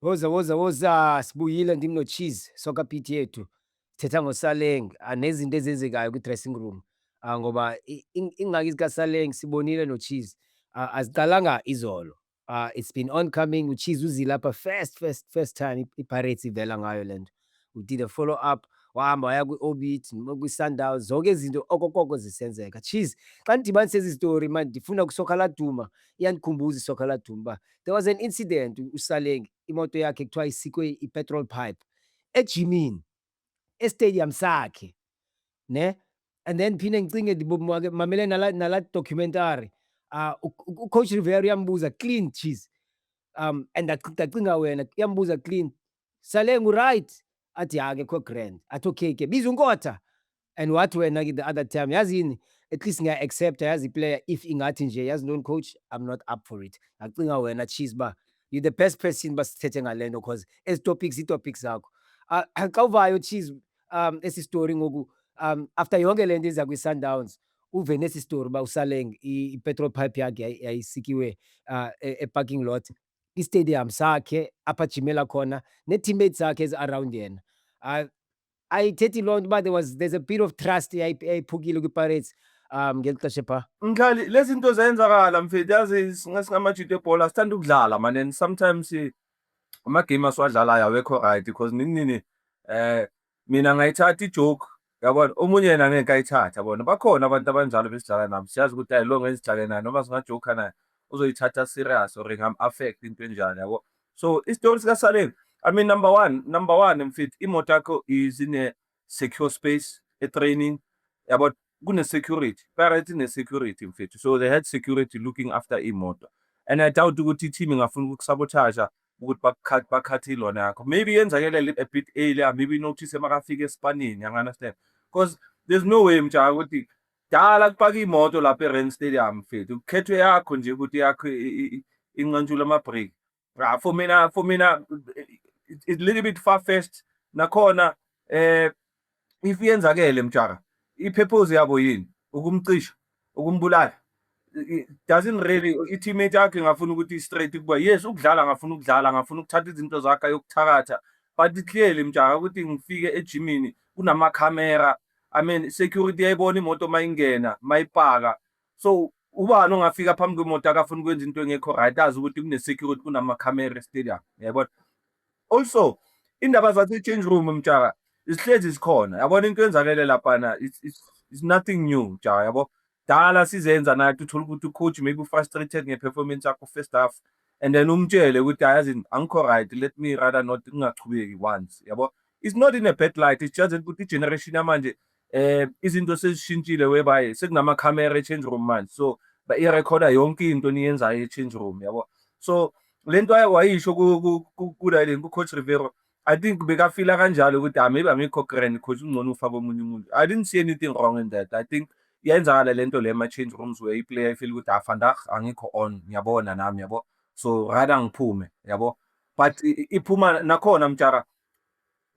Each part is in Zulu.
Woza woza woza sibuyile ndim noCheese Soccer Beat yethu. Sithetha ngoSaleng ah, nezinto ezenzekayo kwi-dressing room ah, ngoba i- ing- ingxaki zikaSaleng sibonile noCheese ah, aziqalanga izolo. Ah, it's been oncoming. UChiza uzile lapha first first first time i- iPirates ivela ngayo le nto. We did a follow up wahamba waya kwi-Orbit noma kwi-Sundowns zonke izinto okokoko zisenzeka. Cheese xa ndidibanisa ezi story manje ndifuna kusoka laduma iyandikhumbuza isoka laduma uba there was an incident u- uSaleng imoto yakhe kuthiwa isikwe i-petrol pipe ejimini estadium sakhe ne and then phinde ngicinge ndibomake mamele nala nala documentary uh ucoach Rivera uyambuza clean cheese um and ndacinga wena uyambuza clean sale ngu right athi yake kho grand athi okay ke biza unkotha And wathi wena ke the other time yazi yini at least ngiya accepta yazi player if ingathi nje yazi ntoni coach I'm not up for it. Ngacinga wena cheese ba you the best person basithethe ngalento cause ezi topics i topics zakho. Ah, xa uvayo cheese um esi story ngoku um after yonke lento iza kwi Sundowns uve nesi story ba usaleng i, i petrol pipe yakhe yayi- yayisikiwe uh, e, e parking lot i stadium sakhe apha jimela khona ne teammates zakhe ezi around yena. Ah, ayithethi loo nto uba there was there's a bit of trust yayiphukile kwiPirates um ngeli xesha phaa mkhali lezi zinto zayenzakala mfethu yazi singamajuda ebhola sithanda ukudlala mane and sometimes eh, amagame asiwadlalayo awekho right because nini nini um mina ngayithatha ijoke yabona omunye yena ngeke kayithatha bona bakhona abantu abanjalo besidlala nabo siyazi ukuthi ayilonga ezidlale naye noma singajoka naye uzoyithatha serious or ngam-affect into enjani yabo So isitori sika Saleng, I mean number one, number one mfit imoto yakho is in a secure space, a training about kune security, parity ne security mfit. So they had security looking after imoto. And I doubt ukuthi team ingafuna ukusabotage ukuthi bakukhathi bakhathi ilona yakho. Maybe yenzakele a bit earlier, maybe notice makafika esipanini, you understand? Because there's no way mjaka ukuthi Dala kupaka imoto lapha eRand Stadium mfethu. Kukhethwe yakho nje ukuthi yakho inqantshula ama-break. Ah, for mina for mina it's a little bit far fetched nakhona eh if yenzakele mjara ipurpose yabo yini ukumcisha ukumbulala doesn't really i-teammate yakhe ngafuna ukuthi straight kuba yes ukudlala ngafuna ukudlala ngafuna ukuthatha izinto zakhe yokuthakatha but clearly mjaka ukuthi ngifike ejimini kunamakhamera i mean security yayibona imoto mayingena mayipaka so ubani ongafika phambi kwemoto akafuna ukwenza into engekho right azi ukuthi kune-security kunamakhamera estadium yayibona also indaba zase-change room mjaka zihlezi zikhona yabona into yenzakele laphana it's, it's, it's nothing new mjaka yabo Dala sizenza nathi uthole ukuthi ucoach maybe ufrustrated ngeperformance yakho first half and then umtshele ukuthi ayazini angikho right let me rather not ngingachubeki once yabo it's not in a bad light it's just ukuthi igeneration yamanje eh izinto sezishintshile whereby sekunama camera e-change room manje so bayirekhoda yonke into niyenzayo e-change room yabo so lento wayisho ku-Dylan ku-coach Riveiro I think bekafila kanjalo ukuthi ah maybe amikho grand coach ungcono ufake omunye umuntu. I didn't see anything wrong in that. I think iyenzakala lento le ma change rooms where iplayer ifeel ukuthi ah vandag angikho on ngiyabona nami yabo. So rather ngiphume yabo. But iphuma nakhona mtshara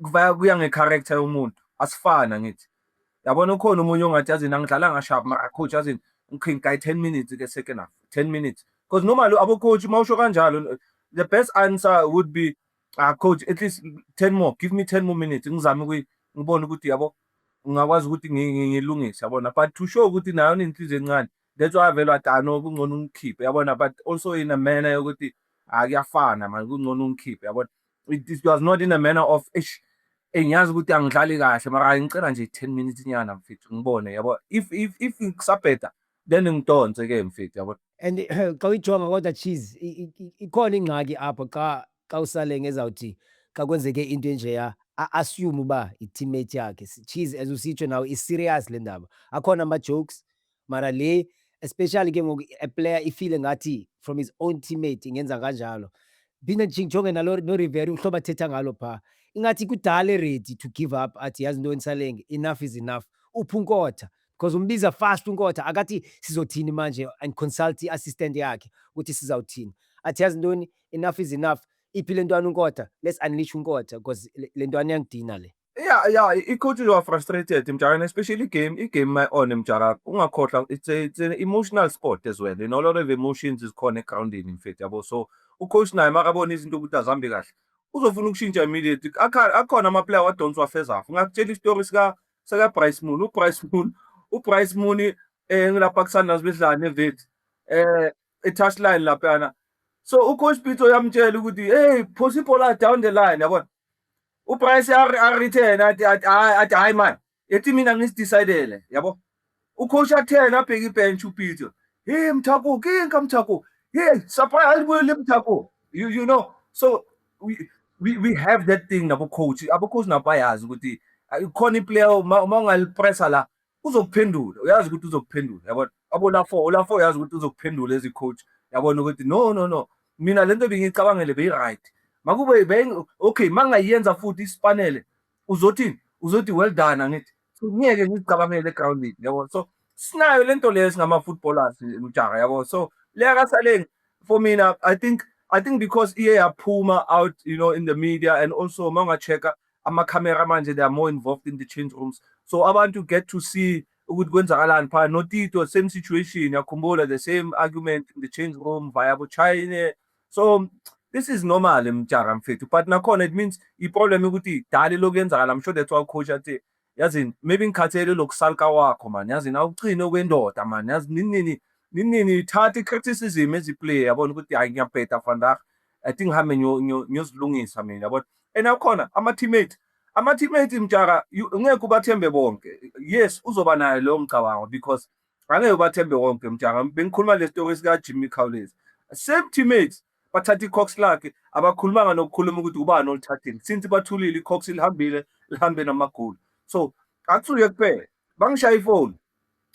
kuvaya kuya nge character yomuntu asifana ngithi. Yabona ukhona umunye ongathi yazini angidlala ngasharp mara coach yazini ngikhinga kayi 10 minutes ke second half 10 minutes because normally abo coach mawusho kanjalo the best answer would be Ah coach at least 10 more give me 10 more minutes ngizame ukuthi ngibone ukuthi yabo ngingakwazi ukuthi ngilungise yabona but to show ukuthi nayo nenhliziyo encane that's why vele watano kungcono ungikhiphe yabona but also in a manner yokuthi akuyafana ah, manje kungcono ungikhiphe yabona it was not in a manner of eish engiyazi eh, ukuthi angidlali kahle mara ngicela nje 10 minutes nyana mfethu ngibone yabo if if if ngisabheda Then ngidonse ke mfethu yabo. And xa uyijonga kodwa cheese i- i- i- ikhona ingxaki apho xa xa usale ngezawuthi xa kwenzeke into enjeya a-assume uba yi-teammate yakhe. S- Cheese as usitsho nawe i-serious le ndaba. Akhona ama-jokes mara le especially ke ngoku a player ifile ngathi from his own teammate ingenza kanjalo. Ndiphinde ndijonge nalo noRivera uhlobo athetha ngalo phaa. Ingathi kudala eredi to give up athi yazi ntoni Saleng enough is enough. Uphi uNkotha? Coz umbiza fast uNkotha akathi sizothini manje and consult i assistant yakhe ukuthi sizawuthini. Athi yazi ntoni enough is enough iphi lentwana uNkotha let's unleash uNkotha coz lentwana iyangidina le. Yeah yeah i coach you are frustrated mjaka especially game i game my own mjaka ungakhohlwa it's a, it's an emotional sport as well you know a lot of emotions is khona egroundini in fact yabo so u coach naye makabona izinto ukuthi azihambi kahle uzofuna ukushintsha immediately akhona ama player wadonswa first half ngakutshela istory sika saka Bryce Moon u Bryce Moon u Bryce Moon eh ngilapha kusandla sibedlana nevet eh e touch line lapha yana so u coach Pitso uyamtshela ukuthi hey phosa ibhola down the line yabona u Bryce a return athi athi hayi man ethi mina ngisidecidele yabo Ucoach athena abheke ibench uPeter. Hey Mthako, kinka Mthako. Hey, sapaya alibuyile Mthako. You you know, so we we, we have that thing nabo coach. Abo coach nabo bayazi ukuthi khona iplayer uma ungalipressa la uzokuphendula. Uyazi ukuthi uzokuphendula. Yabona? Abo la 4, la 4 uyazi ukuthi uzokuphendula as a coach. Yabona ukuthi no no no. Mina lento bengicabangele beyi right. Makube okay, mangayenza futhi isipanele uzothini uzothi well done angithi ngeke ngicabangele egroundini yabo so sinayo lento leyo singama footballers mjaha yabo so leya kasaleng for mina i think i think because iye yaphuma out you know in the media and also mawungachecka amakhamera manje they are more involved in the change rooms so abantu get to see ukuthi kwenzakalani phana notito same situation yakhumbula the same argument in the change room via bochine so this is normal mjaka mfethu but nakhona it means iproblem ukuthi dali lokuyenzakala i'm sure that's why coach athi yazini maybe ngikhathele lokusalka wakho mani yazini awuchine okwendoda mani yazi ninini ninini ithatha i-criticism eziplay yabona ukuthi hayi ngiyabheda vandag i think hambe ngiyozilungisa mina yabona and akhona ama-teammate ama-teammate mjaka ngeke ubathembe bonke yes uzoba nayo leyo mcabango because angeke ubathembe wonke mjanga bengikhuluma le story sika Jimmy Khawulezi same teammates bathatha icox lakhe abakhulumanga nokukhuluma ukuthi ubani olithathile since bathulile icox lihambile lihambe namagoli so akusuye kuphela bangishaya ifoni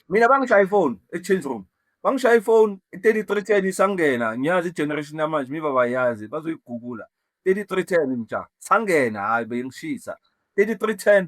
mina bangishaya ifoni e-change room bangishaya ifoni i-33 ten isangena ngiyazi i-generation yamanje miba bayazi bazoyigugula 3310 mja sangena hayi bengishisa 3310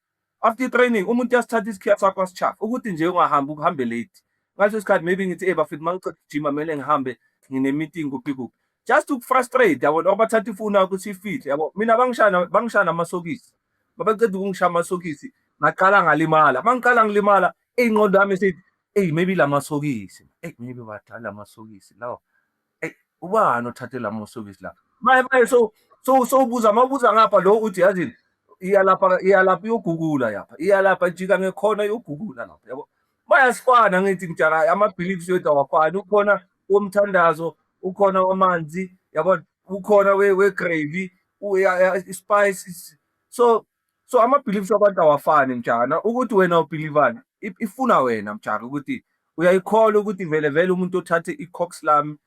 After training umuntu uyasithatha isikhiya sakho asitshafa ukuthi nje ungahambi ukuhambe late. Ngaleso sikhathi maybe ngithi eh bafethu mangiqeda ukujima kumele ngihambe ngine meeting kuphi kuphi. Just to frustrate yabo or bathatha ifoni yakho sifihle yabo. Mina bangishana bangishana amasokisi. Babeceda ukungishaya amasokisi ngaqala ngalimala. Mangiqala ngilimala ingqondo yami sithi hey maybe lamasokisi. Hey maybe badala amasokisi lawo. Hey, ubani othathe la mosokisi lapha? Maye maye so so so ubuza mawubuza ngapha lo uthi yazini iyalapha iyalapha yogugula yapha iyalapha jika ngekhona yogugula lapha yabo bayasifana ngithi mjaka ama beliefs yethu awafani ukhona womthandazo ukhona wamanzi yabo ukhona we we gravy u spice so So ama beliefs abantu awafani mjana ukuthi wena ubelievani ifuna wena mjaka ukuthi uyayikholwa ukuthi vele vele umuntu othathe i-cox lami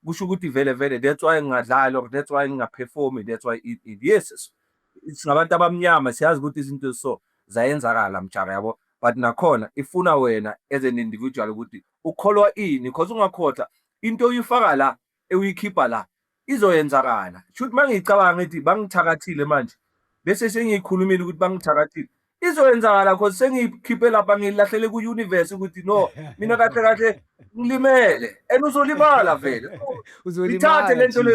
kusho ukuthi vele vele that's why ngingadlali or that's why ngingaperformi that's why it, it. yes singabantu abamnyama siyazi ukuthi izinto so zayenzakala mjaka yabo but nakhona ifuna wena as an individual ukuthi ukholwa ini because ungakhohlwa into oyifaka la ewuyikhipha la izoyenzakala shuthi mangiyicabanga ngithi bangithakathile manje bese sengiyikhulumile ukuthi bangithakathile izoyenzakala because sengiyikhiphe lapha ngilahlele ku-universe ukuthi no mina kahle kahle ngilimele and uzolimala vele ithathe le nto le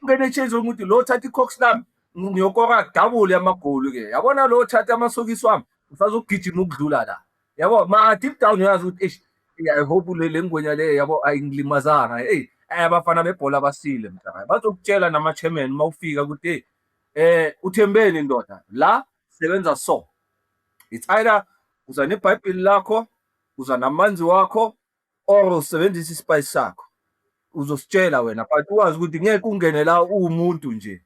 ungene echase ukuthi lo thatha i-cox lami ngiyokora double yamagoli ke yabona lo thatha amasokisi wami usazogijima ukudlula la yabo ma deep down uyazi ukuthi eish i hope le lengwenya le yabo ayingilimazanga hey abafana bebhola basile mntaka bazokutshela nama chairman mawufika ukuthi eh uthembeni ndoda la sebenza so it's either uza nebhayibheli lakho uza namanzi wakho or usebenzisa isipayishi sakho uzositshela wena but uwazi ukuthi ngeke ungene la uwumuntu nje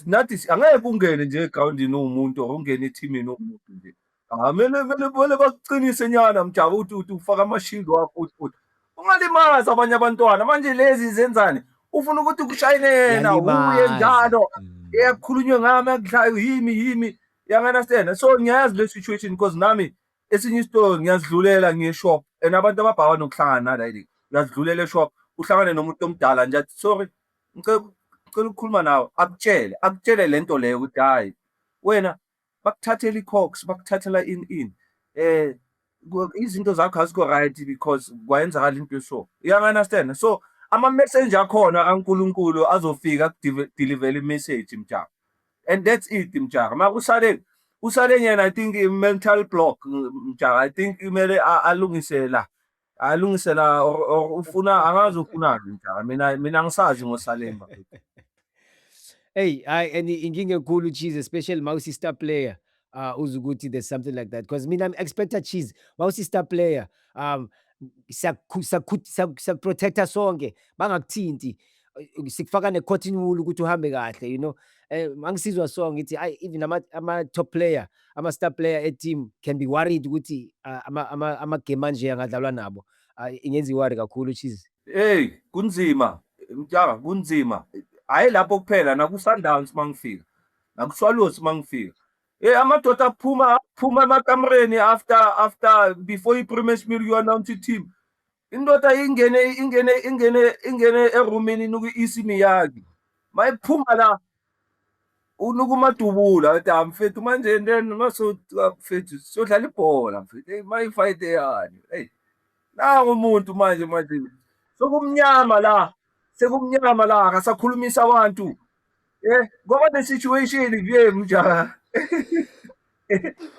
nathi angeke ungene nje egrawundini uwumuntu or ungene ethimini uwumuntu nje amele ah, mele mele bakuqinise nyana mjabu uthi uthi ufaka amashield wakho uthi uthi ungalimazi abanye abantwana manje lezi zenzani ufuna ukuthi kushayine yena uye njalo mm. eyakhulunywe ngami akudlayo yimi yimi yanganasena so ngiyayazi le situation because nami esinye isitolo ngiyazidlulela ngiye shop and abantu ababhawa nokuhlangana nala yini uyazidlulela eshop uhlangane nomuntu omdala nje athi sorry ngicela ngicela ukukhuluma nawe akutshele akutshele lento leyo ukuthi hayi wena bakuthathela icox bakuthathela in in eh izinto zakho azikho right because kwayenzakala into eso uyanganastena so ama-messenger akhona kaNkulunkulu azofika akudeliver i-message mjabo. and that's it mjaka ma kusale kusale yena i think mental block mjaka i think kumele alungise la alungise la or, or ufuna angazi ufunani mjaka mina mina ngisazi ngosalemba Hey, hayi and inkinga enkulu cheese especially ma usi star player. uh, uze ukuthi there's something like that because mina I'm expecta cheese wawusi-star player um siyakuprotecta sonke bangakuthinti sikufaka ne-cotton wool ukuthi uhambe kahle you know um angisizwa so ngithi ayi even ama-top player ama-star player e-team can be worried ukuthi ah, amagame anje angadlalwa nabo ah, ingenza iwari kakhulu cheese hey kunzima mtshaka kunzima hhayi lapho kuphela nakusundowns uma ngifika ngakushwalusi mangifika eh amadoda aphuma aphuma emakamereni after after before i-premiership meal you announce i-team indoda ingene ingene ingene ingene eroomini inuka i-isi miyaki mayiphuma la unuka umadubula athi ah mfethu manje then masoda mfethu siyodlala ibhola mfethu hey mayifight eyani hey nangu umuntu manje manje sokumnyama la sekumnyama la akasakhulumisa abantu Eh, ngoba the situation kuye mjaha.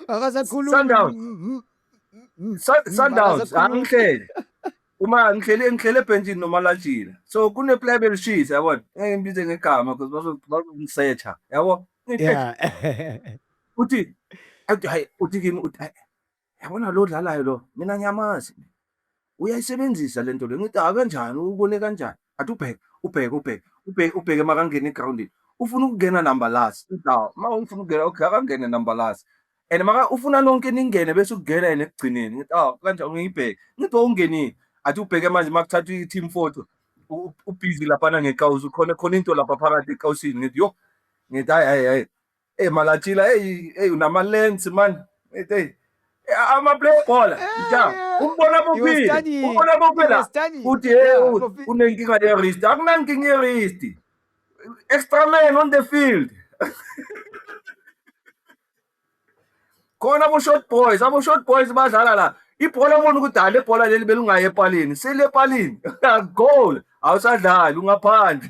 Akasakhulumi. Sundowns. Sun- Sundowns angihlele. Uma ngihlele ngihlele ebhentshini noma lajila. So kune player belishisa yabona. Ngeke ngibize ngegama because bazo bazongisetha. Yabo? Yeah. Uthi athi hayi uthi kimi uthi "Hayi, yabona lo dlalayo lo mina ngiyamazi uyayisebenzisa le nto le ngithi akanjani ubone kanjani athi ubheke ubheke ubheke ubheke ubheke makangena egrawundini ufuna ukungena number last indawo uma ufuna ukungena okay akangene number last and maka ufuna nonke ningene bese ukungena yena ekugcineni ngithi aw kanjani ngiyibheke ngithi wawungenile athi ubheke manje uma kuthathwa i-team photo ubhizi laphana ngekawuzi khona khona into lapha phakathi ekawusini ngithi yo ngithi hayi hayi hayi Hey Malatila, hey hey unama lens man. Hey, hey. Ama play ball. Ja. Eh, Umbona bophile. Umbona bophila. Uthi hey unenkinga ye wrist. Akunankinga ye wrist. Extra man on the field. khona abo-short boys abo-short boys badlala la ibhola ubona ukuthi hhayi le bhola leli belungayi epalini sile epalini goal awusadlali ungaphandle